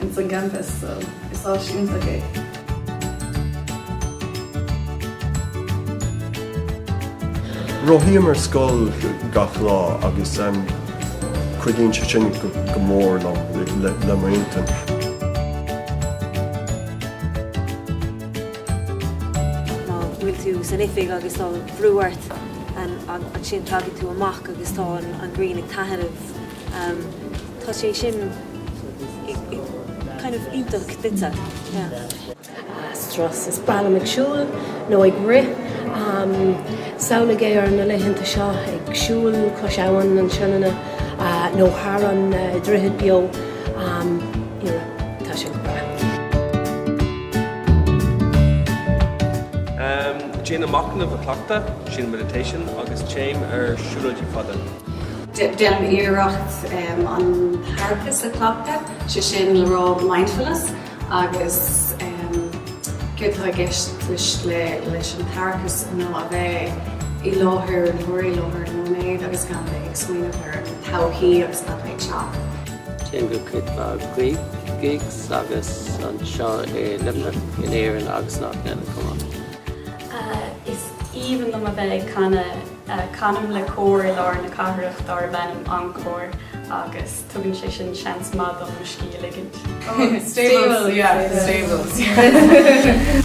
ins an gcampus so is áis iontach é. Rothaím ar scoil gach lá agus cuidíonn sé sin go mór liom le m'intinn. Má bhfuil tú san oifig agus tá brú ort ansin tagann tú amach agus tá an ghrian ag taithneamh. Tá sé sin kind of iontach duitse, yeah. Strus. Is breá liom ag siúl nó ag rith. Samhlaigh é ar na laethanta seo ag siúl cois Abhainn an tSionainne nó thar an droichead beo. Tá sé go breá. Déanaim machnamh a chleachtadh, sin meditation, agus téim ar siúlóidí fada. Déanaim iarracht an t-aireachas a chleachtadh, sé sin le rá mindfulness agus céard tá i gceist leis an t-aireachas ná a bheith i láthair an uair, i láthair an nóiméid agus gan a bheith ag smaoineamh ar an todhchaí agus cad a bheidh ag teacht. Téim go cuid mhaith gigs agus anseo i Luimneach, in Éirinn agus in áiteanna eile chomh maith. Is aoibhinn liom a bheith ag canadh. Canaim le cór i lár na cathrach dárb ainm Encore agus tugann sé sin seans maith dom mo scíth a ligint. Stables, yeah, the Stables, yeah.